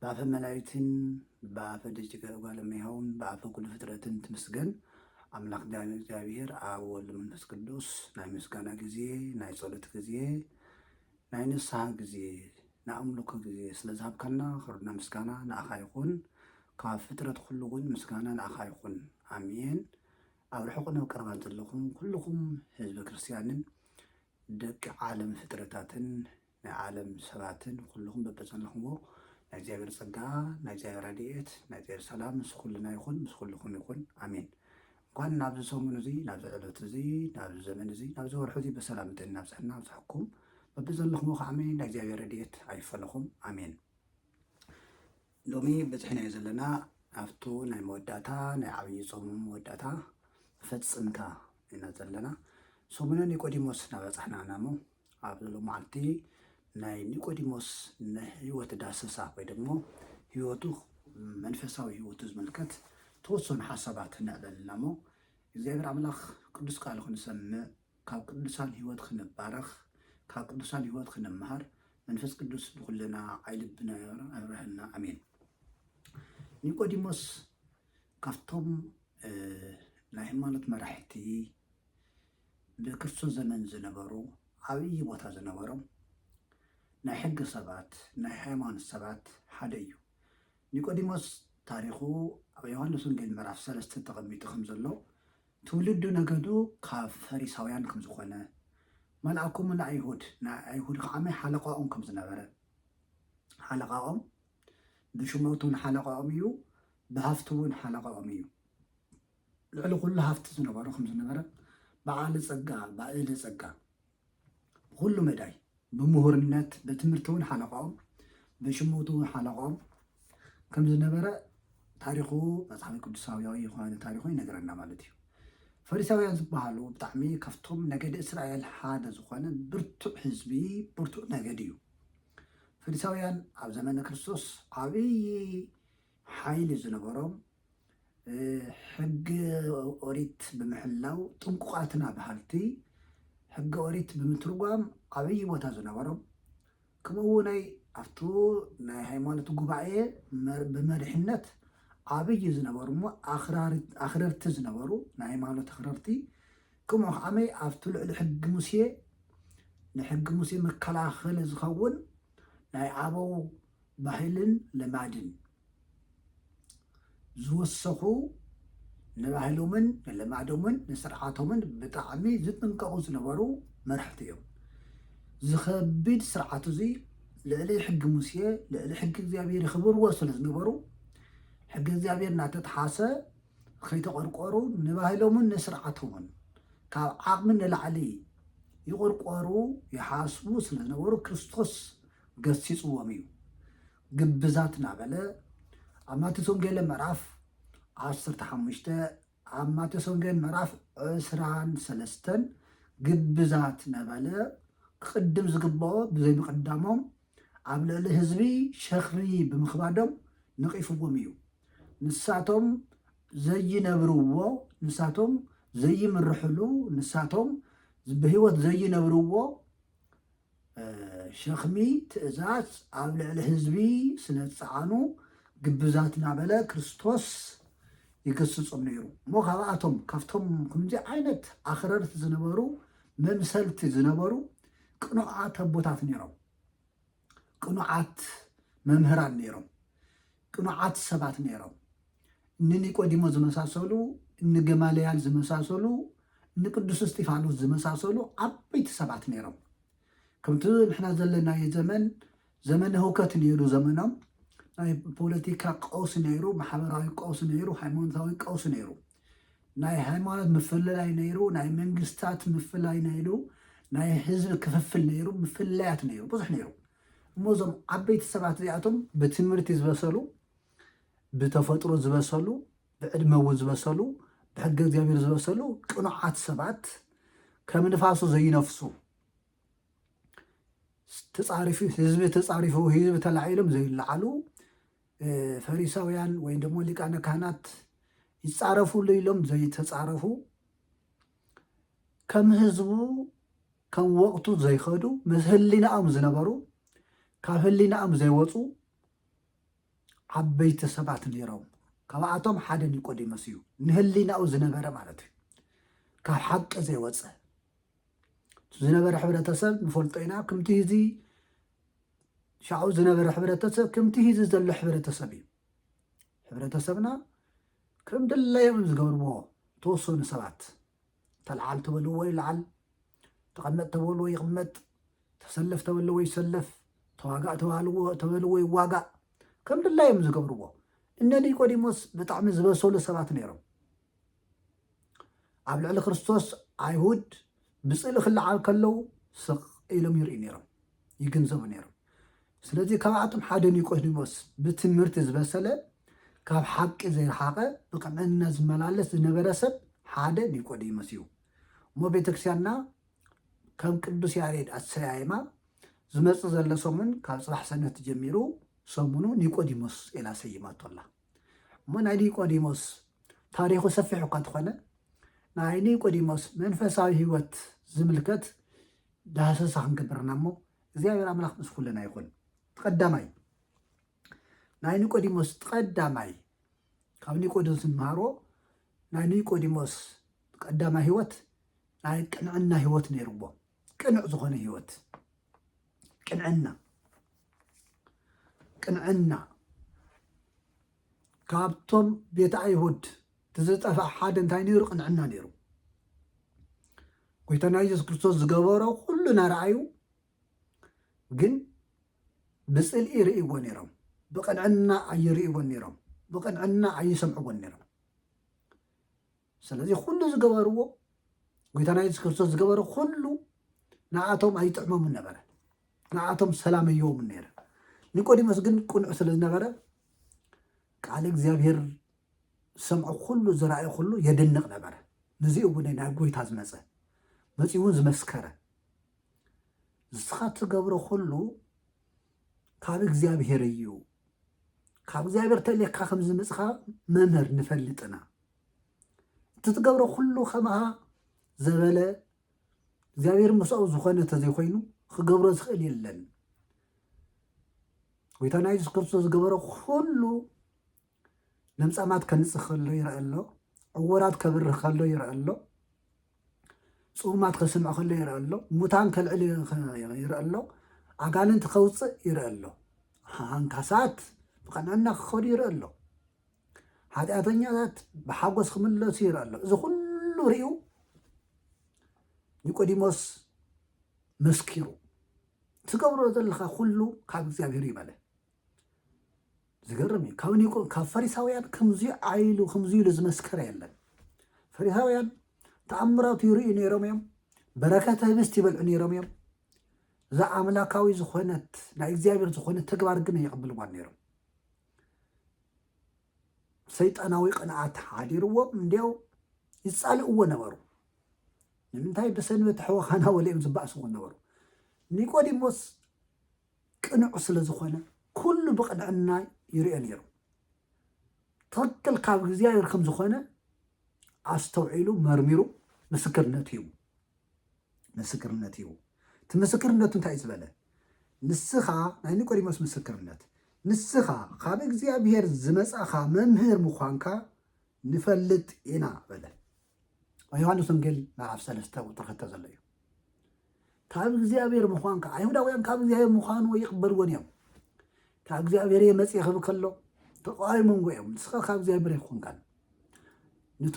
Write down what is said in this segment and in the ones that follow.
ብኣፈ መላይትን ብኣፈ ደቂቀ እጓለ እመሕያውን ብኣፈ ኩሉ ፍጥረትን ትምስገን ኣምላክ ዳግም እግዚኣብሔር ኣብ ወልድ መንፈስ ቅዱስ ናይ ምስጋና ግዜ ናይ ጸሎት ግዜ ናይ ንስሓ ግዜ ናይ ኣምልኮ ግዜ ስለ ዝሃብካና ክርና ምስጋና ንኣኻ ይኹን ካብ ፍጥረት ኩሉ እውን ምስጋና ንኣኻ ይኹን ኣሜን ኣብ ርሑቕን ኣብ ቀረባን ዘለኹም ኩልኹም ህዝበ ክርስትያንን ደቂ ዓለም ፍጥረታትን ናይ ዓለም ሰባትን ኩሉኹም በበዘለኹምዎ ናይ እግዚኣብሔር ጸጋ ናይ እግዚኣብሔር ረድኤት ናይ እግዚኣብሔር ሰላም ምስ ኩልና ይኹን ምስ ኩልኹም ይኹን ኣሜን። እንኳን ናብዚ ሰሙን እዚ ናብዚ ዕለት እዚ ናብዚ ዘመን እዚ ናብዚ ወርሒ እዚ በሰላም እንተይልና ኣብጽሐና ኣብጽሐኩም በብዘለኹምዎ ከዓሚ ናይ እግዚኣብሔር ረድኤት ኣይፈለኹም ኣሜን። ሎሚ በጽሕናዮ ዘለና ኣብቱ ናይ መወዳእታ ናይ ዓብዪ ጾም መወዳእታ መፈጽምታ ኢና ዘለና ሰሙነ ኒቆዲሞስ እናበጻሕና ኢና እሞ ኣብዚ ሎማዕንቲ ናይ ኒቆዲሞስ ናይ ሕይወት ዳሰሳ ወይ ደሞ ሕይወቱ መንፈሳዊ ሕይወቱ ዝምልከት ተወሰኑ ሓሳባት ንዕበል እና እሞ እግዚኣብሔር ኣምላኽ ቅዱስ ቃሉ ክንሰምዕ ካብ ቅዱሳን ሕይወት ክንባረኽ ካብ ቅዱሳን ሕይወት ክንምሃር መንፈስ ቅዱስ ንኹልና ዓይልብና ኣብረሃልና ኣሜን። ኒቆዲሞስ ካብቶም ናይ ሃይማኖት መራሕቲ ብክርስቶስ ዘመን ዝነበሩ ዓብዪ ቦታ ዝነበሮም ናይ ሕጊ ሰባት ናይ ሃይማኖት ሰባት ሓደ እዩ። ኒቆዲሞስ ታሪኹ ኣብ ዮሃንስ ወንጌል ምዕራፍ ሰለስተ ተቐሚጡ ከም ዘሎ ትውልዱ ነገዱ ካብ ፈሪሳውያን ከም ዝኾነ መልኣኩሙ ንኣይሁድ ናይ ኣይሁድ ከዓመ ሓለቓኦም ከም ዝነበረ ሓለቓኦም ብሹመቱን ሓለቓኦም እዩ ብሃፍቱውን ሓለቓኦም እዩ ልዕሊ ኩሉ ሃፍቲ ዝነበሮ ከም ዝነበረ በዓል ጸጋ ኣልባ እደ ጸጋ ብኹሉ መዳይ ብምሁርነት ብትምህርቲ እውን ሓለቃኦም ብሽሞቱ እውን ሓለቃኦም ከም ዝነበረ ታሪኹ መጽሓፍ ቅዱሳውያዊ የሆዋን ታሪኹ ይነገረና ማለት እዩ ፈሪሳውያን ዝበሃሉ ብጣዕሚ ካብቶም ነገድ እስራኤል ሓደ ዝኾነ ብርቱዕ ህዝቢ ብርቱዕ ነገድ እዩ ፈሪሳውያን ኣብ ዘመነ ክርስቶስ ዓብዪ ሓይሊ ዝነበሮም ሕጊ ኦሪት ብምሕላው ጥንቁቓትና በሃልቲ፣ ሕጊ ኦሪት ብምትርጓም ዓብዪ ቦታ ዝነበሮም፣ ከምኡ እውነይ ኣብቱ ናይ ሃይማኖት ጉባኤ ብመሪሕነት ዓብዪ ዝነበሩ እሞ ኣኽረርቲ ዝነበሩ ናይ ሃይማኖት ኣኽረርቲ ከምኡ ከዓመይ ኣብቲ ልዕሊ ሕጊ ሙሴ ንሕጊ ሙሴ መከላኸሊ ዝኸውን ናይ ኣበው ባህልን ልማድን ዝወሰኹ ንባህሎምን ንልማዶምን ንስርዓቶምን ብጣዕሚ ዝጥንቀቑ ዝነበሩ መራሕቲ እዮም። እዚ ከቢድ ስርዓት እዚ ልዕሊ ሕጊ ሙሴ ልዕሊ ሕጊ እግዚኣብሔር ይኽብርዎ ስለ ዝነበሩ ሕጊ እግዚኣብሔር እናተጥሓሰ ከይተቆርቆሩ ንባህሎምን ንስርዓቶምን ካብ ዓቕሚ ንላዕሊ ይቆርቆሩ ይሓስቡ ስለ ዝነበሩ ክርስቶስ ገሲፅዎም እዩ። ግብዛት እናበለ ኣብ ማቴዎስ ወንጌል ምዕራፍ ዓሰርተ ሓሙሽተ ኣብ ማቴዎስ ወንጌል ምዕራፍ ዕስራን ሰለስተን ግብዛት እናበለ ክቕድም ዝግብኦ ብዘይምቕዳሞም ኣብ ልዕሊ ህዝቢ ሸኽሪ ብምኽባዶም ነቒፍዎም እዩ። ንሳቶም ዘይነብርዎ፣ ንሳቶም ዘይምርሕሉ፣ ንሳቶም ብህይወት ዘይነብርዎ ሸኽሚ ትእዛዝ ኣብ ልዕሊ ህዝቢ ስለዝጸዓኑ ግብዛት እናበለ ክርስቶስ ይግስጾም ነይሩ እሞ ካብኣቶም ካብቶም ከምዚ ዓይነት ኣኽረርቲ ዝነበሩ መምሰልቲ ዝነበሩ ቅኑዓት ኣቦታት ነይሮም ቅኑዓት መምህራን ነይሮም ቅኑዓት ሰባት ነይሮም። እኒ ኒቆዲሞስ ዝመሳሰሉ፣ እኒ ገማልያል ዝመሳሰሉ፣ እኒ ቅዱስ እስጢፋኖስ ዝመሳሰሉ ዓበይቲ ሰባት ነይሮም። ከምቲ ንሕና ዘለናዮ ዘመን ዘመነ ህውከት ነይሩ ዘመኖም ናይ ፖለቲካ ቀውሲ ነይሩ፣ ማሕበራዊ ቀውሲ ነይሩ፣ ሃይማኖታዊ ቀውሲ ነይሩ። ናይ ሃይማኖት ምፍልላይ ነይሩ፣ ናይ መንግስታት ምፍላይ ነይሩ፣ ናይ ህዝቢ ክፍፍል ነይሩ፣ ምፍላያት ነይሩ፣ ብዙሕ ነይሩ። እሞ እዞም ዓበይቲ ሰባት እዚኣቶም ብትምህርቲ ዝበሰሉ፣ ብተፈጥሮ ዝበሰሉ፣ ብዕድመ እውን ዝበሰሉ፣ ብሕገ እግዚኣብሔር ዝበሰሉ ቅኑዓት ሰባት ከም ንፋሱ ዘይነፍሱ ተፃሪፉ ህዝቢ ተፃሪፉ ህዝቢ ተላዒሎም ዘይለዓሉ ፈሪሳውያን ወይም ደሞ ሊቃነ ካህናት ይጻረፉሉ ኢሎም ዘይተጻረፉ ከም ህዝቡ ከም ወቕቱ ዘይኸዱ ምስ ህሊናኦም ዝነበሩ ካብ ህሊናኦም ዘይወፁ ዓበይቲ ሰባት ነይሮም። ካብኣቶም ሓደ ኒቆዲሞስ እዩ፣ ንህሊናኡ ዝነበረ ማለት እዩ፣ ካብ ሓቂ ዘይወፀ ዝነበረ ሕብረተሰብ ንፈልጦ ኢና ክምቲ እዚ ሻዑ ዝነበረ ሕብረተሰብ ክምቲ እዚ ዘሎ ሕብረተሰብ እዩ ሕብረተሰብና ከም ድለዮም ዝገብርዎ ተወሰኑ ሰባት ተለዓል ተበልዎ ይለዓል ተቐመጥ ተበልዎ ይቕመጥ ተሰለፍ ተበልዎ ይሰለፍ ተዋጋእ ተበልዎ ይዋጋእ ከም ድላዮም ዝገብርዎ እነ ኒቆዲሞስ ብጣዕሚ ዝበሰሉ ሰባት ነይሮም ኣብ ልዕሊ ክርስቶስ ኣይሁድ ብጽልኢ ክለዓል ከለዉ ስቕ ኢሎም ይርእዩ ነይሮም፣ ይግንዘቡ ነይሮም። ስለዚ ካብኣቶም ሓደ ኒቆዲሞስ ብትምህርቲ ዝበሰለ ካብ ሓቂ ዘይረሓቐ ብቕንዕና ዝመላለስ ዝነበረ ሰብ ሓደ ኒቆዲሞስ እዩ እሞ ቤተክርስቲያንና ከም ቅዱስ ያሬድ ኣሰያይማ ዝመጽእ ዘሎ ሰሙን ካብ ጽባሕ ሰንበት ጀሚሩ ሰሙኑ ኒቆዲሞስ ኢላ ሰይማቶ ኣላ። እሞ ናይ ኒቆዲሞስ ታሪኹ ሰፊሕ እኳ እንተኾነ ናይ ኒቆዲሞስ መንፈሳዊ ህይወት ዝምልከት ዳህሰሳ ክንገብር ኢና እሞ እግዚኣብሔር ኣምላኽ ምስ ኩልና ይኹን። ቀዳማይ ናይ ኒቆዲሞስ ቀዳማይ ካብ ኒቆዲሞስ እንመሃሮ ናይ ኒቆዲሞስ ቀዳማይ ህይወት ናይ ቅንዕና ህይወት ነይርዎም። ቅኑዕ ዝኾነ ህይወት ቅንዕና ቅንዕና ካብቶም ቤት ኣይሁድ ትዝጠፍኣ ሓደ እንታይ ነይሩ? ቅንዕና ነይሩ። ጎይታና ኢየሱስ ክርስቶስ ዝገበሮ ኩሉ ናረኣዩ ግን ብፅልኢ ይርእይዎ ነይሮም። ብቅንዕና ኣይርእይዎን ነይሮም። ብቅንዕና ኣይሰምዕዎን ነይሮም። ስለዚ ኩሉ ዝገበርዎ ጎይታና የሱስ ክርስቶስ ዝገበረ ኩሉ ንኣቶም ኣይጥዕሞምን ነበረ ንኣቶም ሰላም እዮምን ነረ ኒቆዲሞስ ግን ቁኑዕ ስለ ዝነበረ ቃል እግዚኣብሄር ዝሰምዖ ኩሉ ዝረኣየ ኩሉ የድንቕ ነበረ ንዚ እውን ናብ ጎይታ ዝመፀ መፂ እውን ዝመስከረ ንስኻ ትገብሮ ኩሉ ካብ እግዚኣብሄር እዩ ካብ እግዚኣብሄር ተልየካ ከም ዝመፅኻ መምህር ንፈልጥና እቲ ትገብሮ ኩሉ ከምኣ ዘበለ እግዚኣብሔር ምስኡ ዝኾነ ተዘይኮይኑ ክገብሮ ዝኽእል የለን ጎይታና የሱስ ክርስቶስ ዝገበሮ ኩሉ ለምጻማት ከንጽህ ከሎ ይርአ ኣሎ ዕወራት ከብርህ ከሎ ይርአ ኣሎ ጽሙማት ከስምዕ ከሎ ይርአ ኣሎ ሙታን ከልዕል ይርአ ኣሎ ኣጋንንቲ ከውፅእ ይርአ ኣሎ ሃንካሳት ብቐናና ክኸዱ ይርአ ኣሎ ሓጢኣተኛታት ብሓጎስ ክምለሱ ይርእ ኣሎ እዚ ኩሉ ርዩ ኒቆዲሞስ መስኪሩ ትገብሮ ዘለካ ኩሉ ካብ እግዚኣብሄር እዩ በለ ዝገርም እዩ ካብ ኒቆ ካብ ፈሪሳውያን ከምዚ ዓይሉ ከምዚ ኢሉ ዝመስከረ የለን ፈሪሳውያን ተኣምራቱ ይርእዩ ነይሮም እዮም በረከተ ህብስት ይበልዑ ነይሮም እዮም እዛ ኣምላካዊ ዝኾነት ናይ እግዚኣብሔር ዝኾነ ተግባር ግን የቕብልዋን ነይሮም ሰይጣናዊ ቅንኣት ሓዲርዎም እንድያው ይጻልእዎ ነበሩ። ንምንታይ ብሰንበት ሕወኻና ወሊኦም ዝበኣስዎ ነበሩ። ኒቆዲሞስ ቅኑዕ ስለ ዝኾነ ኩሉ ብቕንዕና ይርኦ ነይሩ። ትኽክል ካብ እግዚኣብሔር ከም ዝኾነ ኣስተውዒሉ መርሚሩ ምስክርነት ሂቡ። ምስክርነት ሂቡ። እቲ ምስክርነቱ እንታይ እዩ ዝበለ? ንስኻ ናይ ኒቆዲሞስ ምስክርነት፣ ንስኻ ካብ እግዚኣብሄር ዝመጻኻ መምህር ምዃንካ ንፈልጥ ኢና በለ። ኣብ ዮሃንስ ወንጌል ምዕራፍ ሰለስተ ቁጥሪ ክልተ ዘሎ እዩ። ካብ እግዚኣብሄር ምዃንካ ኣይሁዳውያን ካብ እግዚኣብሄር ምዃኑ ይቕበልዎን እዮም። ካብ እግዚኣብሄር እየ መጽእ ክብል ከሎ ተቃዋሚ መንጎ እዮም። ንስኻ ካብ እግዚኣብሄር ኣይኮንካን ንቱ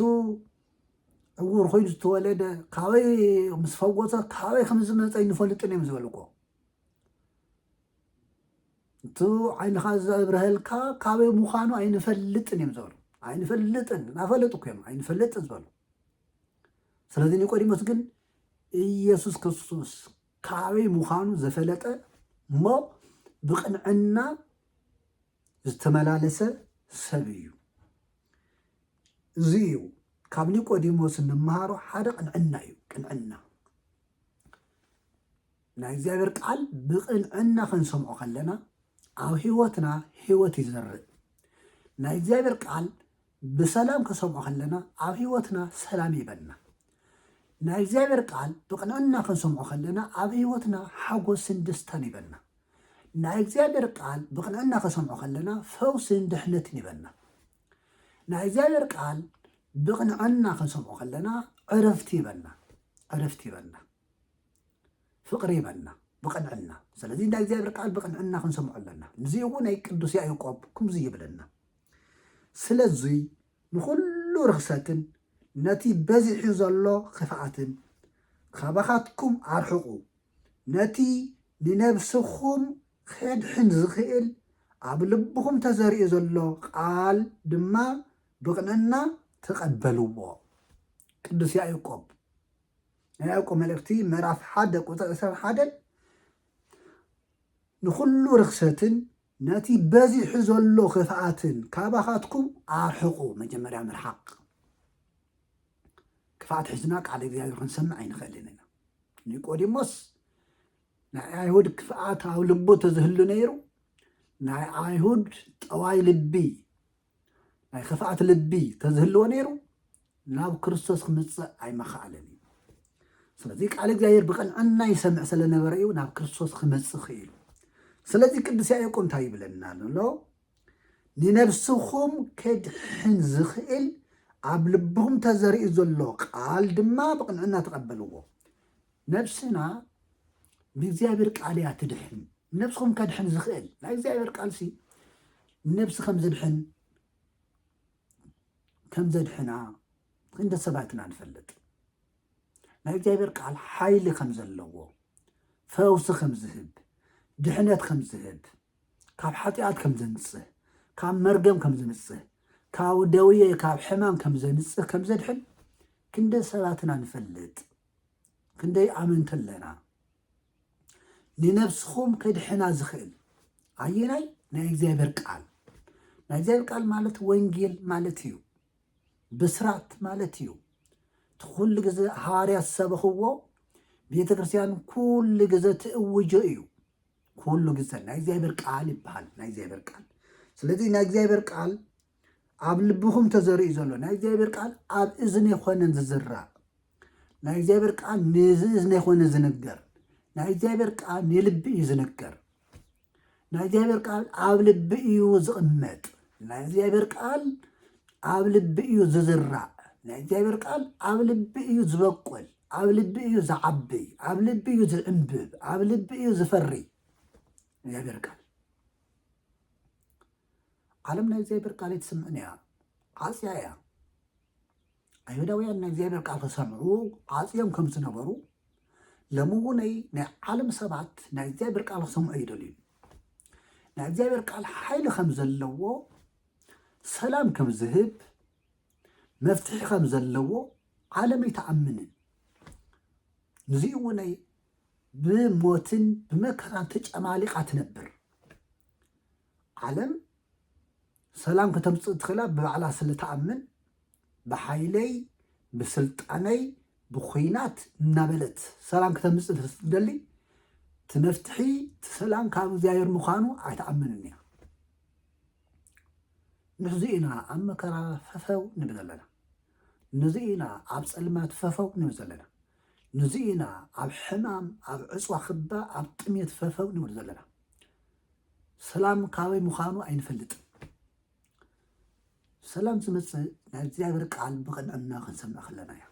ዕዉር ኮይኑ ዝተወለደ ካበይ ምስ ፈወፀ ካበይ ከም ዝመፀ ይንፈልጥን እዮም ዝበልዎ እቲ ዓይንኻ ዘብረሀልካ ካበይ ምዃኑ ኣይንፈልጥን እዮም ዝበሉ ኣይንፈልጥን እናፈለጡ እኮ እዮም ኣይንፈልጥ ዝበሉ ስለዚ ኒቆዲሞስ ግን ኢየሱስ ክርስቶስ ካበይ ምዃኑ ዘፈለጠ እሞ ብቅንዕና ዝተመላለሰ ሰብ እዩ። እዚ እዩ ካብ ኒቆዲሞስ እንመሃሮ ሓደ ቅንዕና እዩ። ቅንዕና ናይ እግዚኣብሔር ቃል ብቅንዕና ክንሰምዖ ከለና ኣብ ህይወትና ህይወት ይዘርእ። ናይ እግዚኣብሔር ቃል ብሰላም ከሰምዖ ከለና ኣብ ሕይወትና ሰላም ይህበና። ናይ እግዚኣብሔር ቃል ብቕንዕና ክንሰምዖ ከለና ኣብ ሕይወትና ሓጎስን ደስታን ይህበና። ናይ እግዚኣብሔር ቃል ብቕንዕና ከሰምዖ ከለና ፈውስን ድሕነትን ይህበና። ናይ እግዚኣብሔር ቃል ብቕንዕና ክንሰምዖ ከለና ዕረፍቲ ይህበና ዕረፍቲ ይህበና ፍቕሪ ይህበና ብቕንዕና ስለዚ ናይ እግዚኣብሔር ቃል ብቕንዕና ክንሰምዖ ኣለና። ንዚ እውን ናይ ቅዱስ ያዕቆብ ክምዚ ይብለና ስለዙይ ንኹሉ ርኽሰትን ነቲ በዚሑ ዘሎ ኽፍኣትን ኻባኻትኩም ኣርሕቑ፣ ነቲ ንነብስኹም ኼድሕን ዚኽእል ኣብ ልብኹም ተዘሪኡ ዘሎ ቓል ድማ ብቕንእና ተቐበልዎ። ቅዱስ ያእቆብ ናይ ያእቆብ መልእኽቲ ምዕራፍ ሓደ ቁፅሪ ዕስራን ሓደን ንኹሉ ርኽሰትን ነቲ በዚሑ ዘሎ ክፍኣትን ካባኻትኩም ኣርሕቑ። መጀመርያ ምርሓቕ። ክፍኣት ሒዝና ቃል እግዚኣብሔር ክንሰምዕ ኣይንኽእልን ኢና። ኒቆዲሞስ ናይ ኣይሁድ ክፍኣት ኣብ ልቡ ተዝህሉ ነይሩ ናይ ኣይሁድ ጠዋይ ልቢ ናይ ኸፍኣት ልቢ ተዝህልዎ ነይሩ ናብ ክርስቶስ ክምፅእ ኣይመኸኣለን እዩ ስለዚ ቃል እግዚኣብሔር ብቐንዕና ይሰምዕ ስለነበረ እዩ ናብ ክርስቶስ ክመፅእ ክኢሉ ስለዚ ቅዱስ ያዕቆብ እንታይ ይብለና ኣሎ ንነብስኹም ከድሕን ዝኽእል ኣብ ልብኹም ተዘሪኡ ዘሎ ቃል ድማ ብቕንዕና ተቐበልዎ ነብስና ብእግዚኣብሔር ቃል እያ ትድሕን። ነብስኹም ከድሕን ዝኽእል ናይ እግዚኣብሔር ቃልሲ ነብሲ ከም ዝድሕን ከም ዘድሕና እንደ ሰባት ኢና ንፈልጥ። ናይ እግዚኣብሔር ቃል ሓይሊ ከም ዘለዎ፣ ፈውሲ ከም ዝህብ፣ ድሕነት ከም ዝህብ፣ ካብ ሓጢኣት ከም ዘንጽህ፣ ካብ መርገም ከም ዘንጽህ፣ ካብ ደውየ ካብ ሕማም ከም ዘንጽህ ከም ዘድሕን ክንደ ሰባት ኢና ንፈልጥ። ክንደይ ኣመንቲ ኣለና? ንነብስኹም ከድሕና ዝኽእል ኣየናይ? ናይ እግዚኣብሔር ቃል። ናይ እግዚኣብሔር ቃል ማለት ወንጌል ማለት እዩ፣ ብስራት ማለት እዩ። ትኩሉ ግዜ ሃዋርያ ዝሰበኽዎ ቤተ ክርስቲያን ኩሉ ግዜ ትእውጆ እዩ። ኩሉ ግዜ ናይ እግዚኣብሔር ቃል ይበሃል፣ ናይ እግዚኣብሔር ቃል። ስለዚ ናይ እግዚኣብሔር ቃል ኣብ ልብኹም ተዘርኡ ዘሎ ናይ እግዚኣብሔር ቃል ኣብ እዝኒ ኣይኮነን ዝዝራእ ናይ እግዚኣብሔር ቃል ንዚ እዝኒ ኣይኮነ ዝንገር ናይ እግዚኣብሔር ቃል ንልቢ እዩ ዝንገር ናይ እግዚኣብሔር ቃል ኣብ ልቢ እዩ ዝቕመጥ ናይ እግዚኣብሔር ቃል ኣብ ልቢ እዩ ዝዝራእ ናይ እግዚኣብሔር ቃል ኣብ ልቢ እዩ ዝበቁል ኣብ ልቢ እዩ ዝዓቢ ኣብ ልቢ እዩ ዝዕንብብ ኣብ ልቢ እዩ ዝፈሪ እግዚኣብሔር ቃል ዓለም ናይ እግዚኣብሔር ቃል ኣይትስምዕን እያ ዓጽያ እያ ኣይሁዳውያን ናይ እግዚኣብሔር ቃል ክሰምዑ ዓጽዮም ከም ዝነበሩ ሎሚ እውነይ ናይ ዓለም ሰባት ናይ እግዚኣብሔር ቃል ክሰምዑ ይደልዩ ናይ እግዚኣብሔር ቃል ሓይሊ ከም ዘለዎ ሰላም ከም ዝህብ መፍትሒ ከም ዘለዎ ዓለም ኣይተኣምንን ንዚ እውነይ ብሞትን ብመከራን ተጨማሊቓ ትነብር ዓለም ሰላም ከተምፅእ እትኽእላ ብባዕላ ስለትኣምን ብሓይለይ ብስልጣነይ ብኹናት እናበለት ሰላም ክተምፅእ ስለትደሊ እቲ መፍትሒ እቲ ሰላም ካብ እግዚኣብሔር ምዃኑ ኣይትኣምንን እያ ንሕዚ ኢና ኣብ መከራ ፈፈው ንብል ኣለና ንዚ ኢና ኣብ ፀልማት ፈፈው ንብል ዘለና ንዚ ኢና ኣብ ሕማም ኣብ ዕፅዋ ክባ ኣብ ጥሜት ፈፈው ንብል ዘለና ሰላም ካበይ ምዃኑ ኣይንፈልጥን። ሰላም ዝመፅእ ናይ እግዚኣብሔር ቃል ብቕንዕና ክንሰምዕ ከለና እዩ።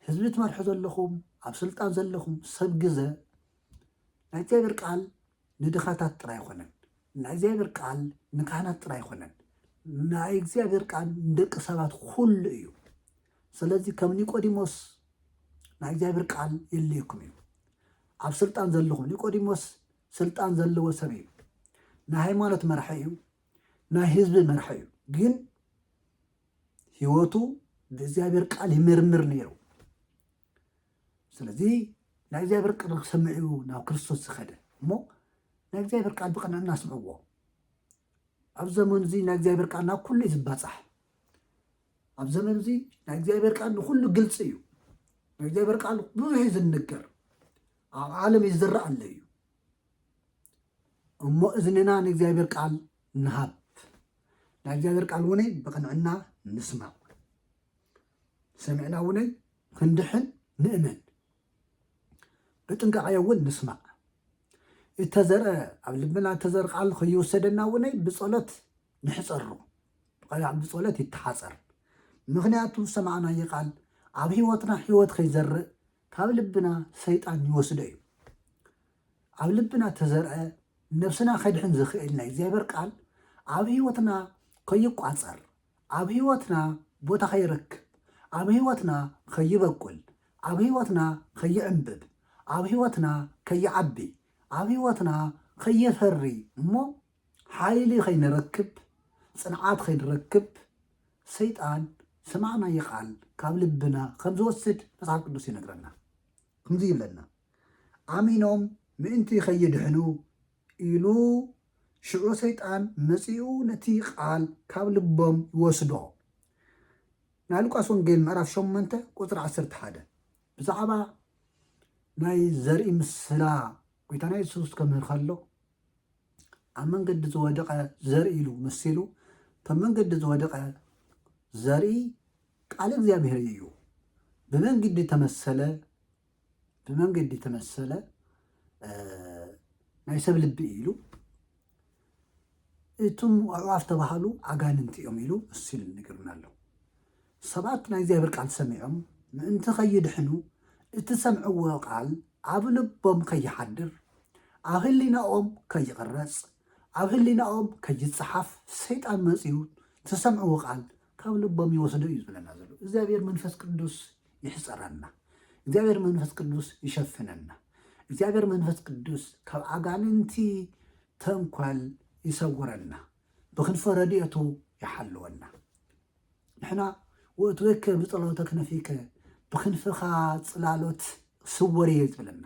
ህዝቢ ትመርሑ ዘለኹም ኣብ ስልጣን ዘለኹም ሰብ ግዘ ናይ እግዚኣብሔር ቃል ንድኻታት ጥራይ ኣይኮነን። ናይ እግዚኣብሔር ቃል ንካህናት ጥራይ ኣይኮነን። ናይ እግዚኣብሔር ቃል ንደቂ ሰባት ኩሉ እዩ። ስለዚ ከም ኒቆዲሞስ ናይ እግዚኣብሔር ቃል የድልየኩም እዩ። ኣብ ስልጣን ዘልኹ ኒቆዲሞስ ስልጣን ዘለዎ ሰብ እዩ ናይ ሃይማኖት መራሒ እዩ ናይ ህዝቢ መራሒ እዩ ግን ህይወቱ ብእግዚኣብሔር ቃል ይምርምር ነይሩ ስለዚ ናይ እግዚኣብሔር ቃል ክሰምዕ እዩ ናብ ክርስቶስ ዝኸደ እሞ ናይ እግዚኣብሔር ቃል ብቕንዕና ስምዕዎ ኣብ ዘመኑ እዚ ናይ እግዚኣብሔር ቃል ናብ ኩሉ እዩ ዝባፃሕ ኣብ ዘመን እዚ ናይ እግዚኣብሔር ቃል ንኩሉ ግልፂ እዩ ናይ እግዚኣብሔር ቃል ብዙሕ እዩ ዝንገር ኣብ ዓለም ይዝረእ ኣሎ እዩ እሞ እዝንና ንእግዚኣብሔር ቃል ንሃብ ናይ እግዚኣብሔር ቃል እውን ብቅንዕና ንስማዕ ሰሚዕና እውን ክንድሕን ንእመን ብጥንቃቐ እውን ንስማዕ። እተዘርአ ኣብ ልብና እተዘርእ ቃል ከይወሰደና እውን ብጸሎት ንሕጸሮ። ብቐዕ ብጸሎት ይተሓጸር። ምክንያቱ ዝሰማዕናዮ ቃል ኣብ ህይወትና ህይወት ከይዘርእ ካብ ልብና ሰይጣን ይወስዶ እዩ ኣብ ልብና ተዘርአ ነብስና ከድሕን ዝኽእል ናይ እግዚኣብሔር ቃል ኣብ ህይወትና ከይቋፀር ኣብ ህይወትና ቦታ ከይረክብ፣ ኣብ ህይወትና ከይበቁል፣ ኣብ ህይወትና ከይዕምብብ፣ ኣብ ህይወትና ከይዓቢ፣ ኣብ ህይወትና ከየፈሪ እሞ ሓይሊ ከይንረክብ፣ ፅንዓት ከይንረክብ ሰይጣን ዝሰማዕናዮ ቃል ካብ ልብና ከም ዝወስድ መፅሓፍ ቅዱስ ይነግረና። ከምዚ ይብለና ኣሚኖም ምእንቲ ከይድሕኑ ኢሉ ሽዑ ሰይጣን መጺኡ ነቲ ቃል ካብ ልቦም ይወስዶ። ናይ ሉቃስ ወንጌል ምዕራፍ ሸሞንተ ቁጽሪ ዓሰርተ ሓደ ብዛዕባ ናይ ዘርኢ ምስላ ጎይታና የሱስ ከምህር ከሎ ኣብ መንገዲ ዝወደቐ ዘርኢ ኢሉ መሲሉ እቶም መንገዲ ዝወደቐ ዘርኢ ቃል እግዚኣብሔር እዩ ብመንግዲ ተመሰለ ብመንገዲ ተመሰለ ናይ ሰብ ልቢ ኢሉ እቱም ኣዕዋፍ ተባሃሉ ኣጋንንቲ እዮም ኢሉ እሱ ኢሉ ንገርና ኣሎ ሰባት ናይ እግዚኣብሔር ቃል ሰሚዖም ምእንቲ ከይድሕኑ እቲ ሰምዕዎ ቃል ኣብ ልቦም ከይሓድር ኣብ ህሊናኦም ከይቕረፅ ኣብ ህሊናኦም ከይፀሓፍ ሰይጣን መፅኡ ትሰምዕዎ ቃል ካብ ልቦም ይወስዶ እዩ ዝብለና ዘሎ እግዚኣብሔር መንፈስ ቅዱስ ይሕፀረና እግዚኣብሔር መንፈስ ቅዱስ ይሸፍነና እግዚኣብሔር መንፈስ ቅዱስ ካብ ኣጋንንቲ ተንኳል ይሰውረና ብክንፈ ረድኤቱ ይሓልወና ንሕና ወትወከ ብጸሎተ ክነፊከ ብክንፍኻ ጽላሎት ስወር እየ ዝብለና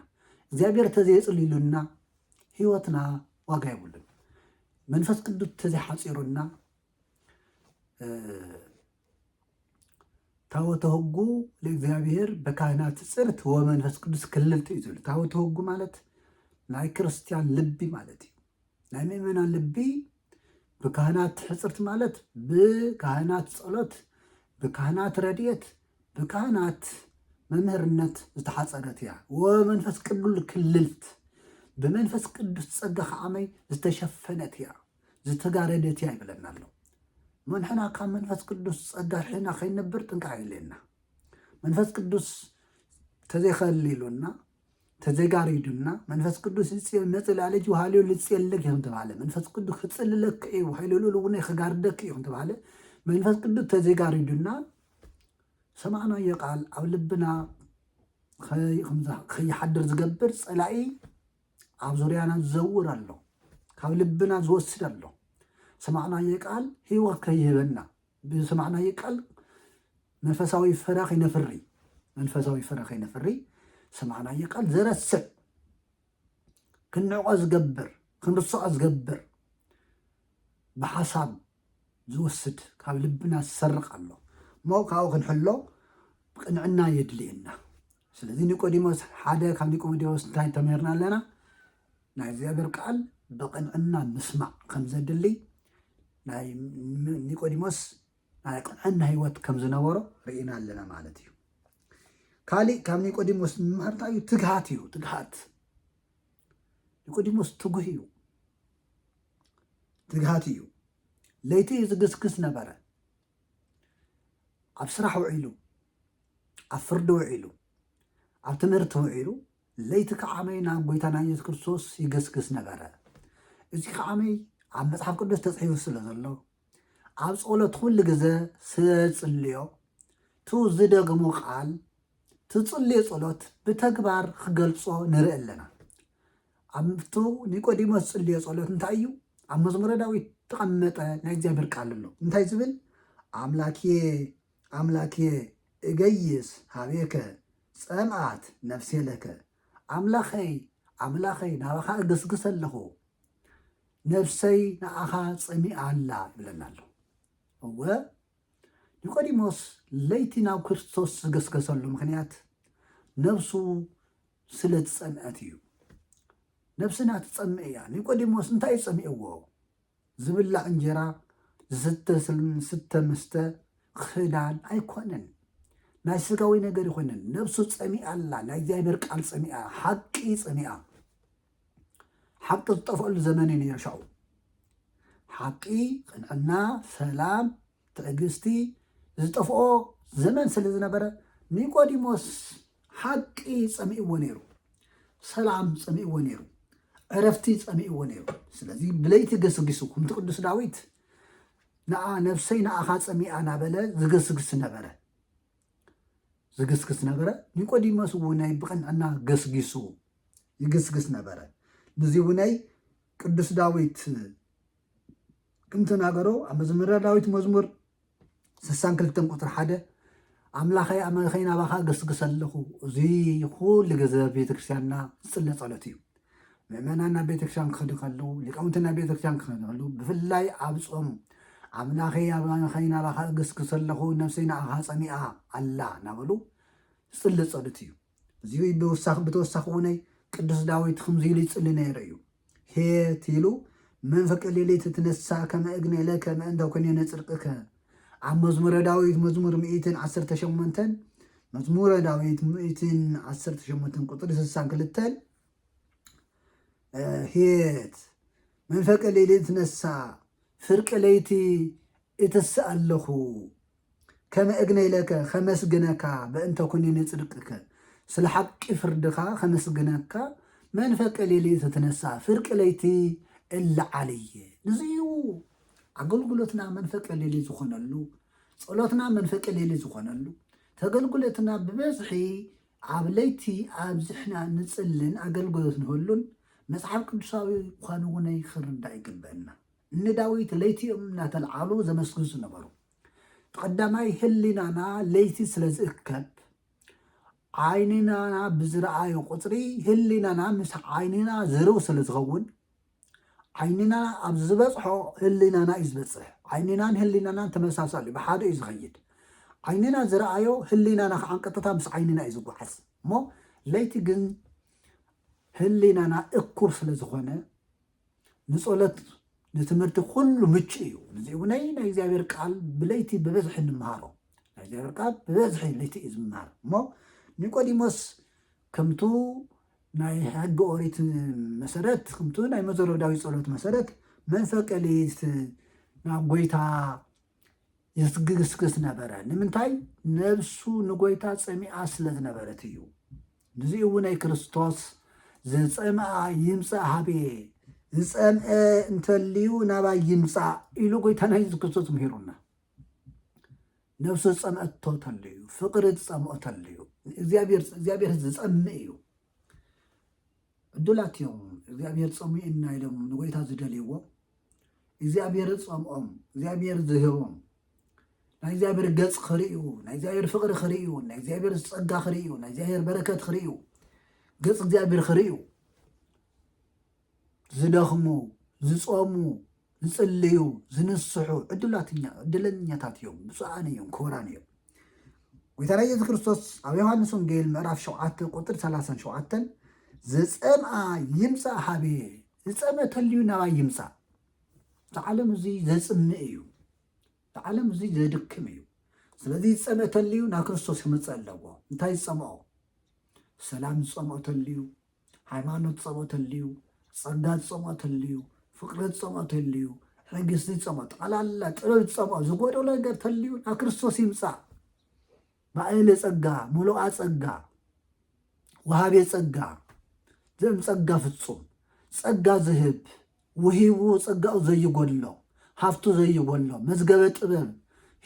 እግዚኣብሔር ተዘየፅልሉና ህይወትና ዋጋ ይብሉን መንፈስ ቅዱስ ተዘይሓፂሩና ታቦተ ሕጉ ለእግዚኣብሔር በካህናት ጽርት ወመንፈስ ቅዱስ ክልልት እዩ ዝብል ታቦተ ሕጉ ማለት ናይ ክርስትያን ልቢ ማለት እዩ ናይ ምእመናን ልቢ ብካህናት ሕፅርት ማለት ብካህናት ጸሎት ብካህናት ረድኤት ብካህናት መምህርነት ዝተሓፀረት እያ ወመንፈስ ቅዱል ክልልት ብመንፈስ ቅዱስ ጸጋ ከዓመይ ዝተሸፈነት እያ ዝተጋረደት እያ ይብለና ኣሎ እሞ ንሕና ካብ መንፈስ ቅዱስ ጸጋ ርሒና ከይንነብር ጥንቃ የድልየና መንፈስ ቅዱስ ተዘይከሊሉና ተዘጋሪዱና መንፈስ ቅዱስ ይጽል መጽላለጅ ውሃልዮ ልጽየለክ ይኹን ተባለ መንፈስ ቅዱስ ክጽልለክ እዩ ሃይሎ ልኡል እውን ክጋርደክ እዩ ተባለ መንፈስ ቅዱስ ተዘጋሪዱና ሰማዕናዮ ቃል ኣብ ልብና ከይሓድር ዝገብር ፀላኢ ኣብ ዙርያና ዝዘውር ኣሎ፣ ካብ ልብና ዝወስድ ኣሎ። ዝሰማዕናዮ ቃል ህይወት ከይህበና፣ ብዝሰማዕናዮ ቃል መንፈሳዊ ፍረ ከይነፍሪ መንፈሳዊ ፍረ ከይነፍሪ ዝሰማዕናዮ ቃል ዘረስዕ ክንዕቆ ዝገብር ክንርስዖ ዝገብር ብሓሳብ ዝወስድ ካብ ልብና ዝሰርቅ ኣሎ እሞ ካብኡ ክንሕሎ ቅንዕና የድልየና ስለዚ ኒቆዲሞስ ሓደ ካብ ኒቆዲሞስ እንታይ ተምህርና ኣለና ናይ እግዚኣብሔር ቃል ብቅንዕና ምስማዕ ከም ዘድሊ ናይ ኒቆዲሞስ ናይ ቅንዕና ህይወት ከም ዝነበሮ ርኢና ኣለና ማለት እዩ ካሊእ ካብ ኒቆዲሞስ ንምሃር እንታይ እዩ ትግሃት እዩ ትግሃት ኒቆዲሞስ ትጉህ እዩ ትግሃት እዩ። ለይቲ ዝግስግስ ነበረ። ኣብ ስራሕ ውዒሉ፣ ኣብ ፍርዲ ውዒሉ፣ ኣብ ትምህርቲ ውዒሉ፣ ለይቲ ከዓመይ ናብ ጎይታና ኢየሱስ ክርስቶስ ይገስግስ ነበረ። እዚ ከዓመይ ኣብ መጽሓፍ ቅዱስ ተጽሒፉ ስለ ዘሎ ኣብ ጸሎት ኩሉ ግዘ ስለዝጽልዮ እቲ ዝደግሞ ቃል ትጽልዮ ጸሎት ብተግባር ክገልጾ ንርኢ ኣለና። ኣብቱ ኒቆዲሞስ ዝጽልዮ ጸሎት እንታይ እዩ? ኣብ መዝሙረ ዳዊት እተቐመጠ ናይ እግዚኣብሔር ቃል ኣሎ እንታይ ዝብል ኣምላኬ ኣምላኬ እገይስ ኀቤከ ጸምኣት ነፍሴ ለከ ኣምላኸይ ኣምላኸይ ናባኻ እግስግስ ኣለኹ ነፍሰይ ንኣኻ ጸሚኣ ኣላ ይብለና ኣሎ እወ ኒቆዲሞስ ለይቲ ናብ ክርስቶስ ዝገስገሰሉ ምክንያት ነብሱ ስለ ዝጸምአት እዩ። ነብስና ትጸምእ እያ። ኒቆዲሞስ እንታይ እዩ ጸሚእዎ? ዝብላዕ እንጀራ፣ ዝስተ ስተ ምስተ፣ ክዳን ኣይኮነን። ናይ ስጋዊ ነገር ይኮነን። ነብሱ ጸሚኣ ኣላ። ናይ እግዚኣብሔር ቃል ጸሚኣ፣ ሓቂ ጸሚኣ። ሓቂ ዝጠፍኣሉ ዘመን እዩ ነይሩ ሻኡ። ሓቂ፣ ቅንዕና፣ ሰላም፣ ትዕግስቲ ዝጠፍኦ ዘመን ስለ ዝነበረ ኒቆዲሞስ ሓቂ ጸሚእዎ ነይሩ፣ ሰላም ጸሚእዎ ነይሩ፣ ዕረፍቲ ጸሚእዎ ነይሩ። ስለዚ ብለይቲ ገስጊሱ ከምቲ ቅዱስ ዳዊት ንኣ ነብሰይ ንኣኻ ጸሚኣ ናበለ ዝገስግስ ነበረ ዝግስግስ ነበረ ኒቆዲሞስ እውነይ ብቕንዕና ገስጊሱ ይግስግስ ነበረ ንዚ እውነይ ቅዱስ ዳዊት ክም ተናገሮ ኣብ መዝምረ ዳዊት መዝሙር ስሳን ክልተን ቁፅሪ ሓደ ኣምላኸይ ኣመኸይ ናባኻ ገስግስ ኣለኹ እዙይ ኩሉ ግዘ ቤተክርስትያንና ዝፅለ ፀሎት እዩ ምእመናን ናብ ቤተክርስትያን ክኸዱ ከለዉ ሊቃውንቲ ናብ ቤተክርስትያን ክኸዱ ከለዉ ብፍላይ ኣብ ጾም ኣምላኸይ ኣባኸይ ናባኻ እግስግስ ኣለኹ ነፍሰይ ንዓኻ ፀሚኣ ኣላ እናበሉ ዝፅሊ ፀሎት እዩ እዚ ብተወሳኺ ብተወሳኺ እውነይ ቅዱስ ዳዊት ከምዚ ኢሉ ይፅሊ ነይሩ እዩ ሔት ኢሉ መንፈቀ ሌሊት ትነሣእ ከመ እግኔ ለከ ምእንተ ኵነኔ ጽድቅከ ኣብ መዝሙረ ዳዊት መዝሙር ሚእትን ዓሰርተ ሸሞንተን መዝሙረ ዳዊት ሚእትን ዓሰርተ ሸሞንተን ቁጽሪ ስሳን ክልተን ሔት መንፈቀ ሌሊት ትነሣእ ፍርቂ ለይቲ እትስእ ኣለኹ ከመ እግነይለከ ኸመስግነካ በእንተ ኵኒነ ጽድቅከ ስለ ሓቂ ፍርድኻ ኸመስግነካ መንፈቀ ሌሊት እትነሣእ ፍርቂ ለይቲ እለዓል እየ። ንዙይ እዩ ኣገልግሎትና መንፈቀ ሌሊት ዝኾነሉ፣ ጸሎትና መንፈቀ ሌሊት ዝኾነሉ፣ ተገልግሎትና ብበዝሒ ኣብ ለይቲ ኣብዚሕና ንጽልን ኣገልግሎት ንህሉን መጽሓፍ ቅዱሳዊ ኳኑ ውነይ ኽርዳእ ይግበእና። ንዳዊት ለይቲ እዮም እናተልዓሉ ዘመስግን ዝነበሩ። እቲ ቀዳማይ ህሊናና ለይቲ ስለ ዝእከብ ዓይንናና ብዝረኣዩ ቁፅሪ ህሊናና ምስ ዓይንና ዝርው ስለ ዝኸውን ዓይንና ኣብ ዝበፅሖ ህሊናና እዩ ዝበፅሕ ዓይንናን ህሊናናን ተመሳሳሊ እዩ ብሓደ እዩ ዝኸይድ ዓይንና ዝረኣዮ ህሊናና ከዓ ቀጥታ ምስ ዓይንና እዩ ዝጓዓዝ እሞ ለይቲ ግን ህሊናና እኩብ ስለ ዝኾነ ንጸሎት ንትምህርቲ ኩሉ ምቹእ እዩ ንዚ እውነይ ናይ እግዚኣብሔር ቃል ብለይቲ ብበዝሒ ንምሃሮ ናይ እግዚኣብሔር ቃል ብበዝሒ ለይቲ እዩ ዝምሃር እሞ ኒቆዲሞስ ከምቱ ናይ ሕጊ ኦሪት መሰረት ከምቱ ናይ መዘረብ ዳዊት ጸሎት መሰረት መንፈቀ ሌሊት ናብ ጎይታ ይስግስግስ ነበረ ንምንታይ ነብሱ ንጎይታ ጸሚኣ ስለ ዝነበረት እዩ ንዚ እውን ኣይ ክርስቶስ ዘጸምኣ ይምጻእ ሃብየ ዝጸምአ እንተልዩ ናባይ ይምጻእ ኢሉ ጎይታና የሱስ ክርስቶስ ምሂሩና ነብሱ ዝጸምአቶ ተልዩ ፍቅሪ ዝጸምኦ ተልዩ እግዚኣብሔር ዝጸምእ እዩ ዕዱላት እዮም እግዚኣብሔር ጸሚኡና ኢሎም ንጎይታ ዝደልይዎ እግዚኣብሔር ጸምኦም እግዚኣብሔር ዝህቦም ናይ እግዚኣብሔር ገጽ ክርእዩ ናይ እግዚኣብሔር ፍቕሪ ክርእዩ ናይ እግዚኣብሔር ጸጋ ክርእዩ ናይ እግዚኣብሔር በረከት ክርእዩ ገጽ እግዚኣብሔር ክርእዩ ዝደኽሙ፣ ዝጾሙ፣ ዝጽልዩ፣ ዝንስሑ ዕድለኛታት እዮም፣ ብፁዓን እዮም፣ ክቡራን እዮም። ጎይታና ኢየሱስ ክርስቶስ ኣብ ዮሃንስ ወንጌል ምዕራፍ 7 ቁጥሪ 37 ዘጸምኣ ይምጻእ ሃብየ ዝጸመ ተልዩ ናባይ ይምጻእ ዝዓለም እዚ ዘጽምእ እዩ ዝዓለም እዚ ዘድክም እዩ ስለዚ ዝጸመ ተልዩ ናብ ክርስቶስ ክምጸእ ኣለዎ እንታይ ዝጸምኦ ሰላም ዝጸምኦ ተልዩ ሃይማኖት ጸሎት ኣልዩ፣ ጸጋ ጸሞት ኣልዩ፣ ፍቅሪ ጸሞት ኣልዩ፣ ሕግስቲ ጸሞት ጠቅላላ ጥበብ ጸሞት ዝጎደሎ ነገር ተልዩ ናብ ክርስቶስ ይምጻእ። ባእለ ጸጋ ሙሉኣ ጸጋ ወሃቤ ጸጋ ዘም ጸጋ ፍጹም ጸጋ ዝህብ ወሂቡ ጸጋኡ ዘይጎድሎ ሃፍቱ ዘይጎድሎ መዝገበ ጥበብ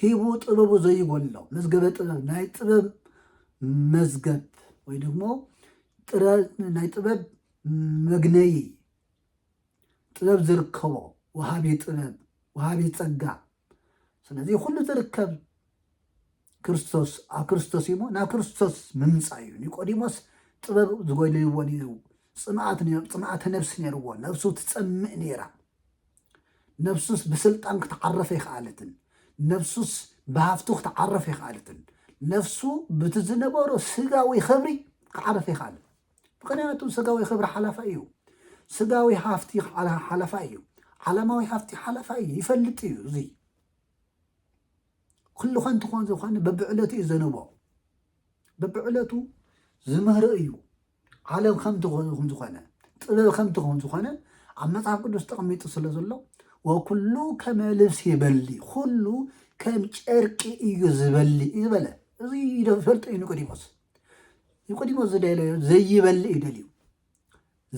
ሂቡ ጥበቡ ዘይጎድሎ መዝገበ ጥበብ ናይ ጥበብ መዝገብ ወይ ደግሞ ጥረ ናይ ጥበብ መግነዪ ጥበብ ዝርከቦ ወሃቢ ጥበብ ወሃቢ ጸጋ ስለዚ ኩሉ ዝርከብ ክርስቶስ ኣብ ክርስቶስ እዩሞ ናብ ክርስቶስ ምምፃእ እዩ ኒቆዲሞስ ጥበብ ዝጎይልዎ ነይሩ ፅምኣተ ነብሲ ነይርዎ ነብሱ ትፀምእ ነይራ ነብሱስ ብስልጣን ክትዓረፍ ኣይከኣለትን ነብሱስ ብሃፍቱ ክትዓረፍ ኣይከኣለትን ነፍሱ ብቲ ዝነበሮ ስጋዊ ክብሪ ክዓረፍ ኣይከኣለን ምኽንያቱ ስጋዊ ክብሪ ሓላፋይ እዩ። ስጋዊ ሃፍቲ ሓላፋይ እዩ። ዓለማዊ ሃፍቲ ሓላፋይ እዩ። ይፈልጥ እዩ እዚ ኩሉ ከንቲ ክኾን ዝኾነ በብዕለቱ እዩ ዘንቦ በብዕለቱ ዝምህሮ እዩ ዓለም ከምቲ ከም ዝኾነ ጥበብ ከምቲ ከም ዝኾነ ኣብ መጽሓፍ ቅዱስ ተቐሚጡ ስለ ዘሎ ወኩሉ ከመ ልብሲ ይበሊ ኩሉ ከም ጨርቂ እዩ ዝበሊ እዩ ዝበለ እዚ ይፈልጡ እዩ ኒቆዲሞስ ይቁዲሞ ዝደለዮ ዘይበልእ እዩ ደልዩ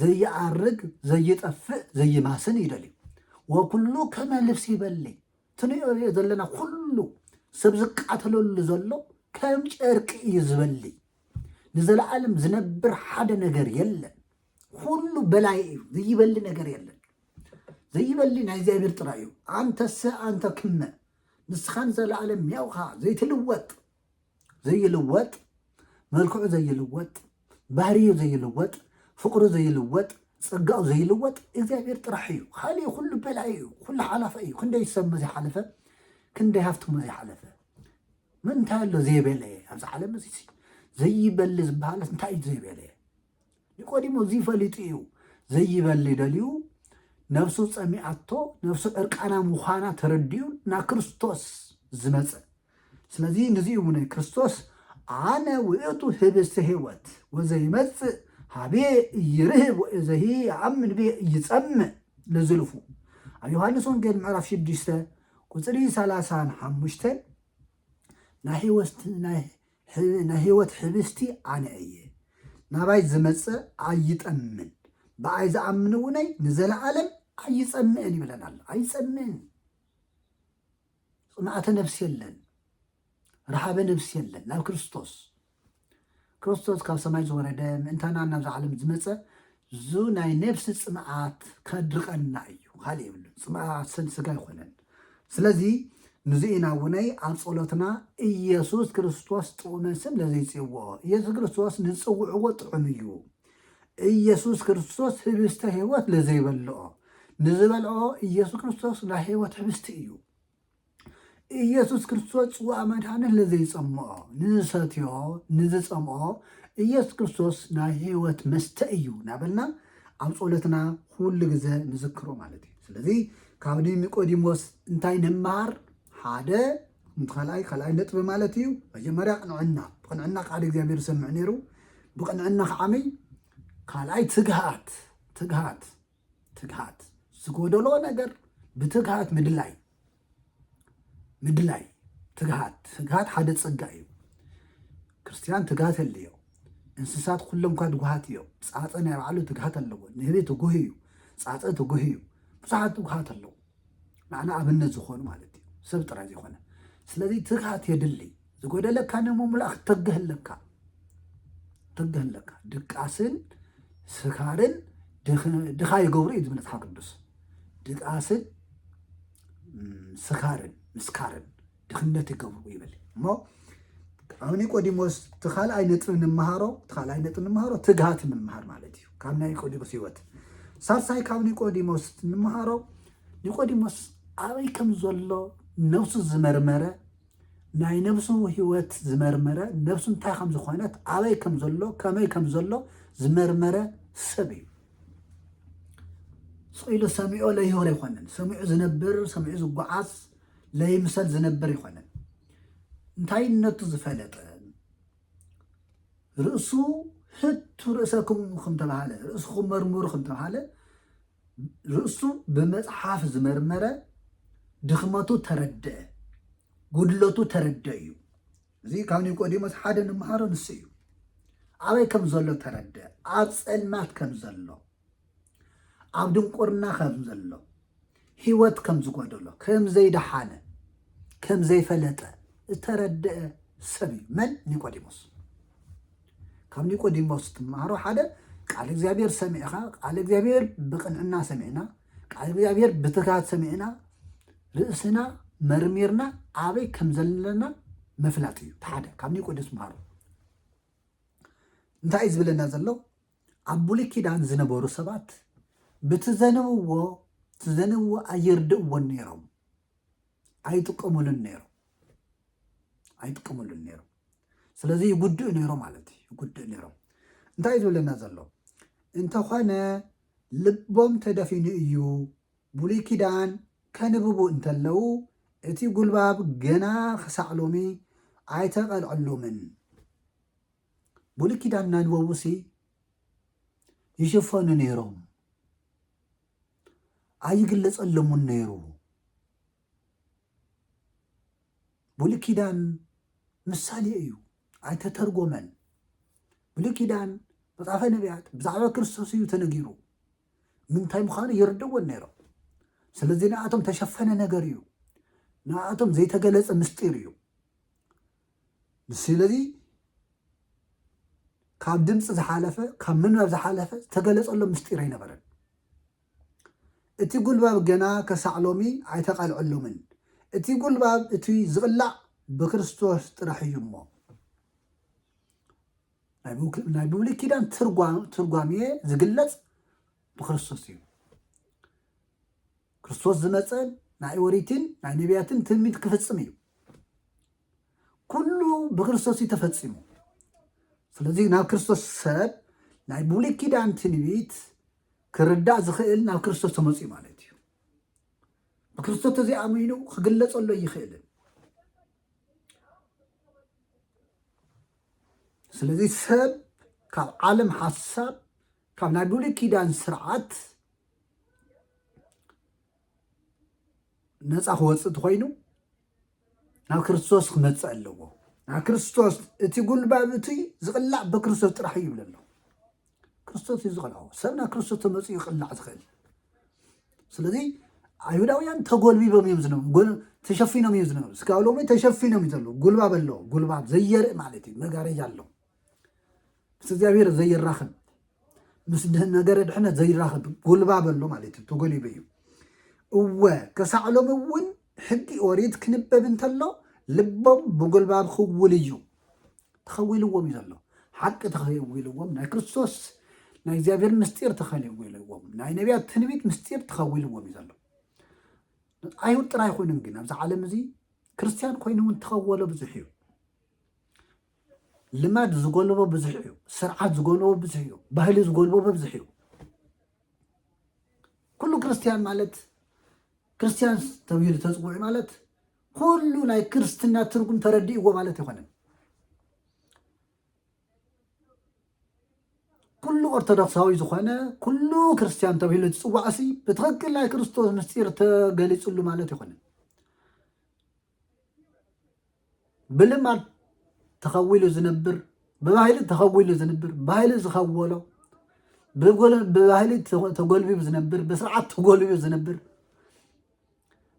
ዘይዓርግ ዘይጠፍእ ዘይማስን እዩ ደልዩ ወኩሉ ከመ ልብሲ ይበሊ ትንሪኦ ዘለና ኩሉ ሰብ ዝቃተለሉ ዘሎ ከም ጨርቂ እዩ ዝበሊ ንዘለዓለም ዝነብር ሓደ ነገር የለን ኩሉ በላይ እዩ ዘይበሊ ነገር የለን ዘይበሊ ናይ እግዚኣብሔር ጥራይ እዩ ኣንተሰ ኣንተ ክመ ንስኻን ዘለዓለም ያውኻ ዘይትልወጥ ዘይልወጥ መልክዑ ዘይልወጥ ባህርዩ ዘይልወጥ ፍቅሩ ዘይልወጥ ጸጋኡ ዘይልወጥ እግዚኣብሔር ጥራሕ እዩ ካልእ ኩሉ በላይ እዩ ኩሉ ሓላፈ እዩ ክንደይ ሰብመ ዘይሓለፈ ክንደይ ሃፍትሞ ዘይሓለፈ ምንታይ ኣሎ ዘይበለ ኣብዚ ዓለም እዚ ዘይበሊ ዝበሃለስ እንታይ እዩ ዘይበለ ኒቆዲሞስ እዚ ፈሊጡ እዩ ዘይበሊ ደልዩ ነፍሱ ጸሚኣቶ ነፍሱ ዕርቃና ምዃና ተረዲኡ ናብ ክርስቶስ ዝመጸ ስለዚ ንዚ እዩ ናይ ክርስቶስ ኣነ ውእቱ ህብስተ ህይወት ወዘይመጽእ ሃቤ እይርህብ ወእዘሂ ይኣምን ቤ እይጸምእ ለዝልፉ ኣብ ዮሃንስ ወንጌል ምዕራፍ 6 ቁፅሪ 35 ናይ ናይ ህይወት ኅብስቲ ኣነ እየ፣ ናባይ ዝመጽእ ኣይጠምን፣ ብኣይ ዝኣምን'ውነይ ንዘለዓለም ኣይጸምእን ይብለና ኣሎ። ኣይጸምእን። ጽምኣተ ነፍሲ የለን፣ ረሃበ ነፍሲ የለን። ናብ ክርስቶስ ክርስቶስ ካብ ሰማይ ዝወረደ ምእንታና ናብዚ ዓለም ዝመጸ እዙ ናይ ነብሲ ፅምኣት ከድርቐና እዩ ካልእ የብሉን ፅምኣት ስን ስጋ ኣይኮነን ስለዚ ንዚ ኢና ውነይ ኣብ ጸሎትና ኢየሱስ ክርስቶስ ጥዑመ ስም ለዘይጽዎ ኢየሱስ ክርስቶስ ንጽውዕዎ ጥዑም እዩ ኢየሱስ ክርስቶስ ህብስተ ህይወት ለዘይበልኦ ንዝበልኦ ኢየሱስ ክርስቶስ ናይ ህይወት ህብስቲ እዩ ኢየሱስ ክርስቶስ ጽዋእ መድኃኒ ለዘይጸምኦ ንዝሰትዮ ንዝጸምኦ ኢየሱስ ክርስቶስ ናይ ሕይወት መስተ እዩ ናበልና ኣብ ጸሎትና ኩሉ ግዘ ንዝክሮ ማለት እዩ። ስለዚ ካብ ኒቆዲሞስ እንታይ ንመሃር? ሓደ ካልኣይ ካልኣይ ነጥቢ ማለት እዩ መጀመርያ ቅንዕና ብቅንዕና ቃል እግዚኣብሔር ዝሰምዕ ነይሩ ብቅንዕና ከዓመይ ካልኣይ ትግሃት ትግሃት ትግሃት ዝጎደሎ ነገር ብትግሃት ምድላይ ምድላይ ትግሃት ትግሃት ሓደ ፀጋ እዩ ክርስትያን ትግሃት የለዮ እንስሳት ኩሎም እኳ ትጉሃት እዮም ፃፀ ናይ ባዕሉ ትግሃት ኣለዎ ንህቢ ትጉህ እዩ ፃፀ ትጉህ እዩ ብዙሓት ትጉሃት ኣለዎ ንዓና ኣብነት ዝኾኑ ማለት እዩ ሰብ ጥራይ ዘይኮነ ስለዚ ትግሃት የድሊ ዝጎደለካ ንምምላእ ክትተግህ ኣለካ ተግህ ኣለካ ድቃስን ስካርን ድኻ ይገብሩ እዩ ዝብል መፅሓፍ ቅዱስ ድቃስን ስካርን ምስካርን ድኽነት ይገብሩ ይብል እሞ ኣብ ኒቆዲሞስ እቲ ካልኣይ ነጥቢ ንምሃሮ እቲ ካልኣይ ነጥቢ ንምሃሮ ትግሃት ንምሃር ማለት እዩ ካብ ናይ ኒቆዲሞስ ህይወት ሳልሳይ ካብ ኒቆዲሞስ ንምሃሮ ኒቆዲሞስ ኣበይ ከም ዘሎ ነብሱ ዝመርመረ ናይ ነብሱ ህይወት ዝመርመረ ነብሱ እንታይ ከም ዝኾነት ኣበይ ከም ዘሎ ከመይ ከም ዘሎ ዝመርመረ ሰብ እዩ ስኢሉ ሰሚዖ ለይሆር ኣይኮነን ሰሚዑ ዝነብር ሰሚዑ ዝጓዓዝ ለይምሰል ዝነብር ይኮነን እንታይነቱ ዝፈለጠን ርእሱ ሕቱ ርእሰኩም ከምተባሃለ ርእስኹም መርምሩ ከምተባሃለ ርእሱ ብመፅሓፍ ዝመርመረ ድኽመቱ ተረድአ ጉድለቱ ተረድአ እዩ እዚ ካብ ኒቆዲሞስ ሓደ ንምሃሮ ንሱ እዩ ኣበይ ከም ዘሎ ተረድአ ኣብ ፀልማት ከም ዘሎ ኣብ ድንቁርና ከም ዘሎ ህይወት ከም ዝጎደሎ ከም ዘይደሓነ ከም ዘይፈለጠ ዝተረድአ ሰብ እዩ መን ኒቆዲሞስ ካብ ኒቆዲሞስ ትምሃሮ ሓደ ቃል እግዚኣብሔር ሰሚዕኻ ቃል እግዚኣብሔር ብቅንዕና ሰሚዕና ቃል እግዚኣብሔር ብትጋት ሰሚዕና ርእስና መርሚርና ኣበይ ከም ዘለና ምፍላጥ እዩ ሓደ ካብ ኒቆዲሞስ ምሃሮ እንታይ እዩ ዝብለና ዘሎ ኣብ ብሉይ ኪዳን ዝነበሩ ሰባት ብትዘንብዎ ትዘንብዎ ኣየርድእዎን ነይሮም ኣይጥቀሙሉን ነይሮም ኣይጥቀሙሉን ነይሮም ስለዚ ይጉድእ ነይሮ ማለት እዩ ይጉድእ ነይሮም እንታይ እዩ ዝብለና ዘሎ እንተኾነ ልቦም ተደፊኑ እዩ ብሉይ ኪዳን ከንብቡ እንተለው እቲ ጉልባብ ገና ክሳዕ ሎሚ ኣይተቐልዐሎምን ብሉይ ኪዳን ናንበቡሲ ይሽፈኑ ነይሮም፣ ኣይግለፀሎምን ነይሩ። ብሉይ ኪዳን ምሳሌ እዩ፣ ኣይተተርጎመን። ብሉይ ኪዳን መጽሓፈ ነቢያት ብዛዕባ ክርስቶስ እዩ ተነጊሩ ምንታይ ምዃኑ ይርድእዎን ነይሮም ስለዚ ንኣቶም ተሸፈነ ነገር እዩ ንኣቶም ዘይተገለጸ ምስጢር እዩ ስለዚ ካብ ድምፂ ዝሓለፈ ካብ ምንባብ ዝሓለፈ ዝተገለፀሎም ምስጢር ኣይነበረን። እቲ ጉልባብ ገና ከሳዕ ሎሚ ኣይተቓልዐሎምን። እቲ ጉልባብ እቲ ዝቕላዕ ብክርስቶስ ጥራሕ እዩ እሞ ናይ ብሉይ ኪዳን ትርጓሜ ዝግለፅ ብክርስቶስ እዩ። ክርስቶስ ዝመፀ ናይ ኦሪትን ናይ ነቢያትን ትንቢት ክፍፅም እዩ። ኩሉ ብክርስቶስ እዩ ተፈፂሙ ስለዚ ናብ ክርስቶስ ሰብ ናይ ብሉይ ኪዳን ትንቢት ክርዳእ ዝኽእል ናብ ክርስቶስ ተመፅኡ ማለት እዩ ብክርስቶስ ተዘይኣሚኑ ክግለፀሎ ይኽእልን ስለዚ ሰብ ካብ ዓለም ሓሳብ ካብ ናይ ብሉይ ኪዳን ስርዓት ነፃ ክወፅእ እንተኮይኑ ናብ ክርስቶስ ክመፅእ ኣለዎ ናብ ክርስቶስ እቲ ጉልባብ እቱይ ዝቕላዕ ብክርስቶስ ጥራሕ እዩ ይብል ኣሎ ክርስቶስ እዩ ዝቐልዖ ሰብ ናብ ክርስቶስ ተመፅኡ ይቕላዕ ዝኽእል ስለዚ ኣይሁዳውያን ተጎልቢቦም እዮም ዝነበሩ ጎል- ተሸፊኖም እዮም ዝነበሩ እስካብ ሎሚ ተሸፊኖም እዩ ዘለዉ ጉልባብ ኣለዎ ጉልባብ ዘየርኢ ማለት እዩ መጋረጃ ኣለዎ ምስ እግዚኣብሔር ዘይራኸብ ምስ ነገረ ድሕነት ዘይራኸብ ጎልባብ ኣሎ ማለት እዩ ተጎሊበ እዩ እወ ከሳዕ ሎሚ እውን ሕጊ ኦሪት ክንበብ እንተሎ ልቦም ብጎልባብ ክውል እዩ ተኸዊልዎም እዩ ዘሎ ሓቂ ተኸዊልዎም ናይ ክርስቶስ ናይ እግዚኣብሔር ምስጢር ተኸዊልዎም ናይ ነቢያት ትንቢት ምስጢር ተኸዊልዎም እዩ ዘሎ ኣይሁድ ጥራይ ኮይኖም ግን ኣብዚ ዓለም እዚ ክርስትያን ኮይኑ እውን ተኸወሎ ብዙሕ እዩ ልማድ ዝጎልቦ ብዙሕ እዩ፣ ስርዓት ዝጎልቦ ብዙሕ እዩ፣ ባህሊ ዝጎልቦ ብዙሕ እዩ። ኩሉ ክርስትያን ማለት ክርስትያን ተብሂሉ ተፅውዒ ማለት ኩሉ ናይ ክርስትና ትርጉም ተረዲእዎ ማለት ኣይኮነን። ኩሉ ኦርቶዶክሳዊ ዝኾነ ኩሉ ክርስትያን ተብሂሉ ዝፅዋዕሲ ብትኽክል ናይ ክርስቶስ ምስጢር ተገሊፅሉ ማለት ኣይኮነን። ብልማድ ተኸዊሉ ዝነብር ብባህሊ ተኸዊሉ ዝነብር ባህሊ ዝኸወሎ ብባህሊ ተጎልቢቡ ዝነብር ብስርዓት ተጎልቢቡ ዝነብር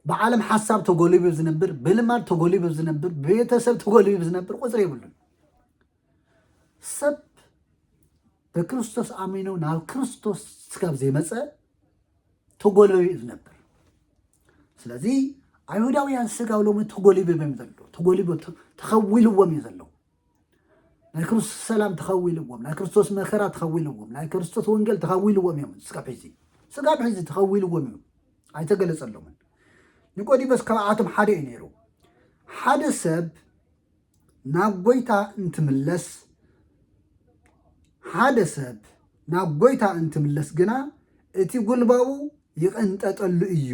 ብዓለም ሓሳብ ተጎልቢቡ ዝነብር ብልማድ ተጎልቢቡ ዝነብር ብቤተሰብ ተጎልቢቡ ዝነብር ቁፅሪ የብሉን። ሰብ ብክርስቶስ ኣሚኑ ናብ ክርስቶስ ስጋብ ዘይመፀ ተጎለዩ እዩ ዝነብር ስለዚ ኣይሁዳውያን ስጋብ ሎሚ ተጎሊቦም እዮም ዘለዉ ተጎሊቦ ተኸዊልዎም እዩ ዘለዉ ናይ ክርስቶስ ሰላም ተኸዊልዎም ናይ ክርስቶስ መከራ ተኸዊልዎም ናይ ክርስቶስ ወንጌል ተኸዊልዎም እዮም ስጋብ ሕዚ ስጋብ ሕዚ ተኸዊልዎም እዩ ኣይተገለፀሎምን ኒቆዲሞስ ካብኣቶም ሓደ እዩ ነይሩ ሓደ ሰብ ናብ ጎይታ እንትምለስ ሓደ ሰብ ናብ ጎይታ እንትምለስ ግና እቲ ጉልባቡ ይቕንጠጠሉ እዩ።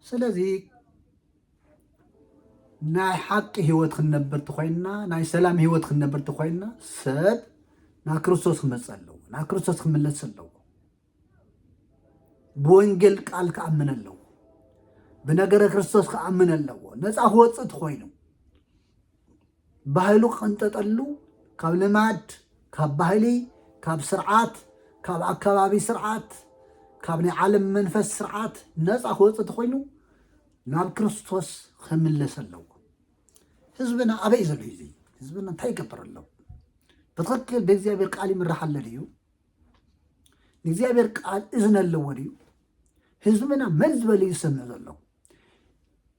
ስለዚ ናይ ሓቂ ህይወት ክንነብር ተኮይንና ናይ ሰላም ህይወት ክንነብር ተኮይንና ሰብ ናብ ክርስቶስ ክመፅእ ኣለዎ ናብ ክርስቶስ ክምለስ ኣለዎ። ብወንጌል ቃል ክኣምን ኣለዎ ብነገረ ክርስቶስ ክኣምን ኣለዎ ነፃ ክወፅእ ትኮይኑ ባህሉ ክቕንጠጠሉ ካብ ልማድ ካብ ባህሊ ካብ ስርዓት ካብ ኣከባቢ ስርዓት ካብ ናይ ዓለም መንፈስ ስርዓት ነፃ ክወፅ ተኮይኑ ናብ ክርስቶስ ክምለስ ኣለዎ ህዝብና ኣበይ ዘሎ እዩ ህዝብና እንታይ ይገብር ኣሎ ብትክክል ብእግዚኣብሔር ቃል ይምራሕ ኣሎ ድዩ ንእግዚኣብሔር ቃል እዝነ ኣለዎ ድዩ? ህዝብና መን ዝበለ እዩ ዝሰምዕ ዘሎ?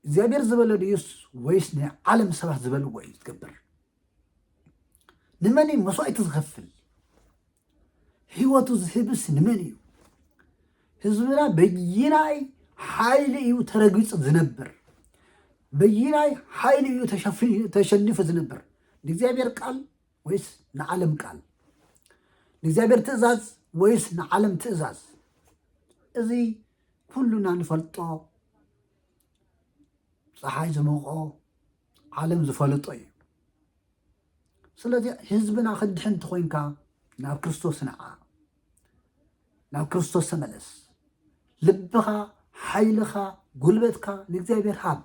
እግዚኣብሔር ዝበለ ድዩስ ወይስ ናይ ዓለም ሰባት ዝበልዎ እዩ ዝገብር? ንመን እዩ መስዋእቲ ዝኸፍል? ህይወቱ ዝህብስ ንመን እዩ? ህዝብና በይናይ ሓይሊ እዩ ተረጊፁ ዝነብር? በይናይ ሓይሊ እዩ ተሸኒፉ ዝነብር? ንእግዚኣብሔር ቃል ወይስ ንዓለም ቃል? ንእግዚኣብሔር ትእዛዝ ወይስ ንዓለም ትእዛዝ? እዚ ኩሉና ንፈልጦ ፀሓይ ዝሞቆ ዓለም ዝፈለጦ እዩ። ስለዚ ህዝብና ክድሕን እንተኮይንካ ናብ ክርስቶስ ንዓ፣ ናብ ክርስቶስ ተመለስ። ልብኻ፣ ሓይልኻ፣ ጉልበትካ ንእግዚኣብሔር ሃብ።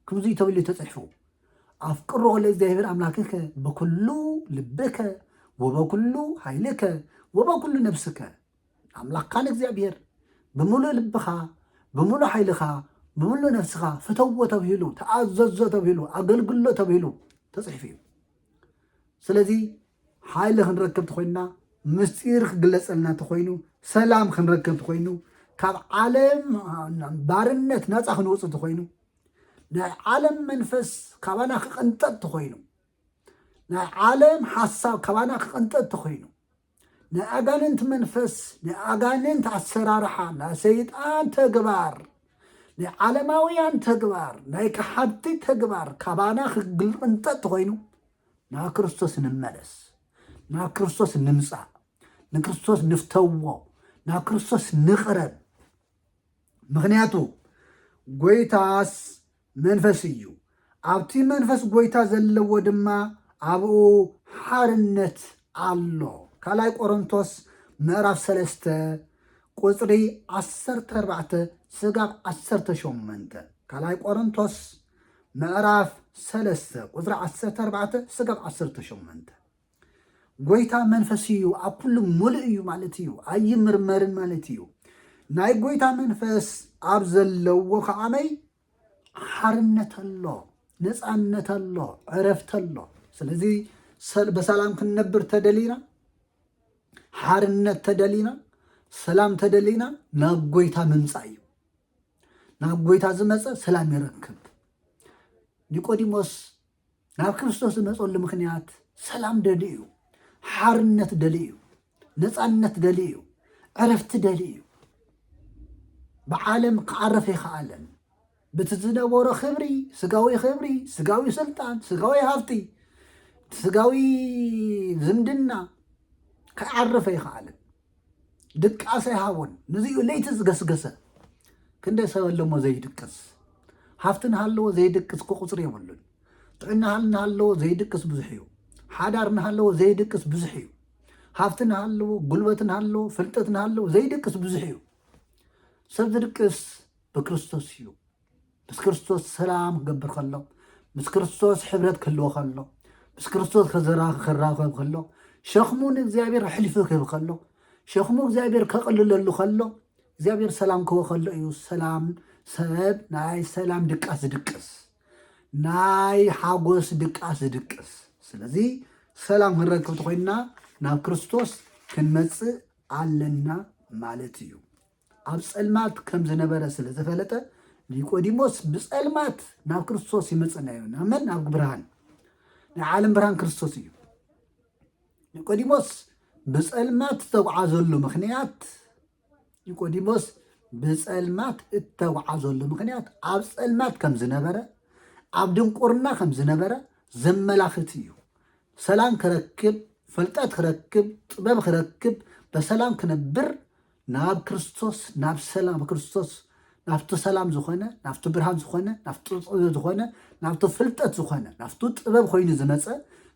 ክምዙይ ተብልዩ ተጽሕፉ ኣፍቅሮ ለእግዚኣብሔር ኣምላክከ በኩሉ ልብከ ወበኩሉ ኃይልከ ወበኩሉ ነፍስከ ኣምላክካ ንእግዚኣብሔር ብምሉእ ልብኻ ብምሉእ ሓይልኻ ብምሉእ ነፍስኻ ፍተዎ ተብሂሉ ተኣዘዞ ተብሂሉ ኣገልግሎ ተብሂሉ ተፅሒፉ እዩ ስለዚ ሓይሊ ክንረክብ ተኾይንና ምስጢር ክግለጸልና ተኾይኑ ሰላም ክንረክብ ተኾይኑ ካብ ዓለም ባርነት ናፃ ክንወፅእ ተኾይኑ ናይ ዓለም መንፈስ ካባና ክቕንጠጥ ተኾይኑ ናይ ዓለም ሓሳብ ካባና ክቕንጠጥ ተኾይኑ ናይ ኣጋንንቲ መንፈስ ናይ ኣጋንንቲ ኣሰራርሓ ናይ ሰይጣን ተግባር ናይ ዓለማውያን ተግባር ናይ ከሓድቲ ተግባር ካባና ክግልቕንጠጥ ተኾይኑ ናብ ክርስቶስ ንመለስ፣ ናብ ክርስቶስ ንምፃእ፣ ንክርስቶስ ንፍተዎ፣ ናብ ክርስቶስ ንቕረብ። ምክንያቱ ጎይታስ መንፈስ እዩ፣ ኣብቲ መንፈስ ጎይታ ዘለዎ ድማ ኣብኡ ሓርነት ኣሎ። ካልኣይ ቆሮንቶስ ምዕራፍ ሰለስተ ቁፅሪ ዓሰርተ ኣርባዕተ ስጋብ ዓሰርተ ሸሞንተ ካልኣይ ቆሮንቶስ ምዕራፍ ሰለስተ ቁጽሪ ዓሰርተ ኣርባዕተ ስጋብ ዓሰርተ ሸሞንተ ጎይታ መንፈስ እዩ፣ ኣብ ኩሉ ሙሉእ እዩ ማለት እዩ፣ ኣይምርመርን ማለት እዩ። ናይ ጎይታ መንፈስ ኣብ ዘለዎ ከዓመይ ሓርነት ኣሎ፣ ነፃነት ኣሎ፣ ዕረፍቲ ኣሎ። ስለዚ ሰል- በሰላም ክንነብር ተደሊና ሓርነት ተደሊና ሰላም ተደሊና ናብ ጎይታ ምምፃእ እዩ። ናብ ጎይታ ዝመፀ ሰላም ይረክብ። ኒቆዲሞስ ናብ ክርስቶስ ዝመፀሉ ምክንያት ሰላም ደሊ እዩ፣ ሓርነት ደሊ እዩ፣ ነፃነት ደሊ እዩ፣ ዕረፍቲ ደሊ እዩ። ብዓለም ክዓረፍ ይከኣለን ብቲ ዝነበሮ ክብሪ ስጋዊ ክብሪ፣ ስጋዊ ስልጣን፣ ስጋዊ ሃብቲ፣ ስጋዊ ዝምድና ክዓረፈ ይከኣለን። ድቃሰ ይሃቦን ንዚኡ ለይቲ ዝገስገሰ ክንደይ ሰብ ኣለሞ ዘይድቅስ ሃፍቲ ንሃለዎ ዘይድቅስ እኮ ቁፅሪ የብሉን ጥዕና ንሃለዎ ዘይድቅስ ብዙሕ እዩ ሓዳር ንሃለዎ ዘይድቅስ ብዙሕ እዩ ሃፍቲ ንሃለዎ ጉልበት ንሃለዎ ፍልጠት ንሃለዎ ዘይድቅስ ብዙሕ እዩ ሰብ ዝድቅስ ብክርስቶስ እዩ ምስ ክርስቶስ ሰላም ክገብር ከሎ ምስ ክርስቶስ ሕብረት ክህልዎ ከሎ ምስ ክርስቶስ ክራኸብ ከሎ ሸኽሙ ንእግዚኣብሔር ኣሕሊፉ ክህብ ከሎ ሸኽሙ እግዚኣብሔር ከቕልለሉ ከሎ እግዚኣብሔር ሰላም ክህቦ ከሎ እዩ ሰላም ሰብ ናይ ሰላም ድቃስ ዝድቅስ ናይ ሓጎስ ድቃስ ዝድቅስ ስለዚ ሰላም ክንረክብ ተኮይንና ናብ ክርስቶስ ክንመፅእ ኣለና ማለት እዩ ኣብ ጸልማት ከም ዝነበረ ስለ ዘፈለጠ ኒቆዲሞስ ብጸልማት ናብ ክርስቶስ ይመጽእ ነይሩ። ናብ መን? ናብ ብርሃን። ናይ ዓለም ብርሃን ክርስቶስ እዩ። ኒቆዲሞስ ብጸልማት ዝተጓዓዘሉ ምክንያት ኒቆዲሞስ ብጸልማት እተጓዓዘሉ ምክንያት ኣብ ጸልማት ከም ዝነበረ ኣብ ድንቁርና ከም ዝነበረ ዘመላኽት እዩ። ሰላም ክረክብ፣ ፈልጠት ክረክብ፣ ጥበብ ክረክብ፣ በሰላም ክነብር ናብ ክርስቶስ ናብ ሰላም ክርስቶስ ናብቲ ሰላም ዝኾነ ናብቲ ብርሃን ዝኾነ ናብቲ ጥበብ ዝኾነ ናብቲ ፍልጠት ዝኾነ ናብቲ ጥበብ ኮይኑ ዝመፀ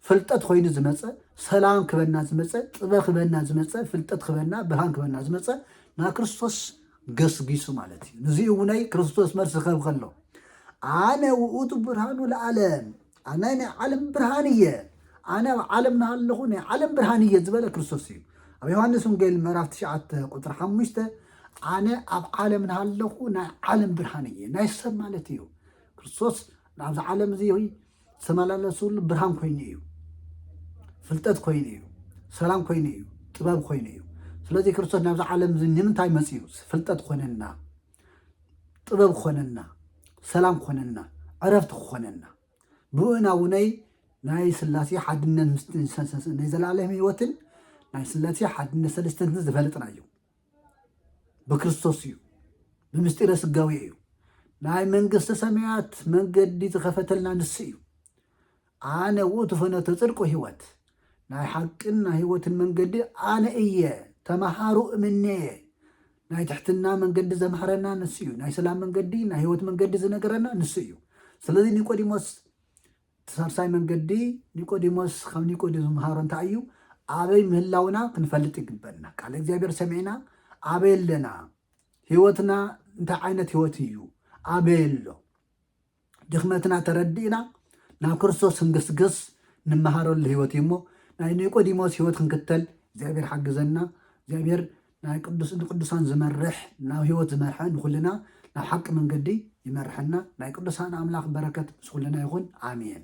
ፍልጠት ኮይኑ ዝመፀ ሰላም ክበና ዝመፀ ጥበብ ክበና ዝመፀ ፍልጠት ክበና ብርሃን ክበና ዝመፀ ናብ ክርስቶስ ገስጊሱ ማለት እዩ ንዚ እውነይ ክርስቶስ መልሲ ክህብ ከሎ ኣነ ውእቱ ብርሃኑ ለዓለም ኣነ ናይ ዓለም ብርሃን እየ ኣነ ኣብ ዓለም ናሃለኹ ናይ ዓለም ብርሃን እየ ዝበለ ክርስቶስ እዩ ኣብ ዮሃንስ ወንጌል ምዕራፍ 9 ቁፅሪ 5 ኣነ ኣብ ዓለም ናሃለኹ ናይ ዓለም ብርሃን እየ ናይ ሰብ ማለት እዩ ክርስቶስ ናብዚ ዓለም እዚ ዝተመላለሱሉ ብርሃን ኮይኑ እዩ ፍልጠት ኮይኑ እዩ ሰላም ኮይኑ እዩ ጥበብ ኮይኑ እዩ ስለዚ ክርስቶስ ናብዚ ዓለም እዚ ንምንታይ መፅኡ ፍልጠት ኮነና ጥበብ ክኾነና ሰላም ክኾነና ዕረፍቲ ክኾነና ብኡና ውነይ ናይ ስላሴ ሓድነት ናይ ዘላለም ህይወትን ናይ ስላሴ ሓድነት ሰለስተንትን ዝፈለጥና እዩ ብክርስቶስ እዩ ብምስጢረ ስጋዊ እዩ ናይ መንግስተ ሰማያት መንገዲ ዝኸፈተልና ንሱ እዩ ኣነ ውእቱ ፈኖተ ጽድቅ ወሕይወት፣ ናይ ሓቅን ናይ ሕይወትን መንገዲ ኣነ እየ፣ ተመሃሩ እምኔየ። ናይ ትሕትና መንገዲ ዘምሃረና ንሱ እዩ። ናይ ሰላም መንገዲ፣ ናይ ሕይወት መንገዲ ዝነገረና ንሱ እዩ። ስለዚ ኒቆዲሞስ እቲ ሳልሳይ መንገዲ ኒቆዲሞስ ካብ ኒቆዲሞስ ዝምሃሮ እንታይ እዩ? ኣበይ ምህላውና ክንፈልጥ ይግበና። ቃል እግዚኣብሔር ሰሚዕና ኣበይ ኣለና? ሕይወትና እንታይ ዓይነት ሕይወት እዩ? ኣበይ ኣሎ? ድኽመትና ተረዲእና ናብ ክርስቶስ ክንግስግስ ንመሃረሉ ህይወት እዩ እሞ ናይ ኒቆዲሞስ ህይወት ክንክተል እግዚኣብሔር ሓግዘና እግዚኣብሔር ናይ ቅዱስ ንቅዱሳን ዝመርሕ ናብ ህይወት ዝመርሐ ንኩልና ናብ ሓቂ መንገዲ ይመርሐና ናይ ቅዱሳን ኣምላኽ በረከት ምስ ኩልና ይኹን ኣሜን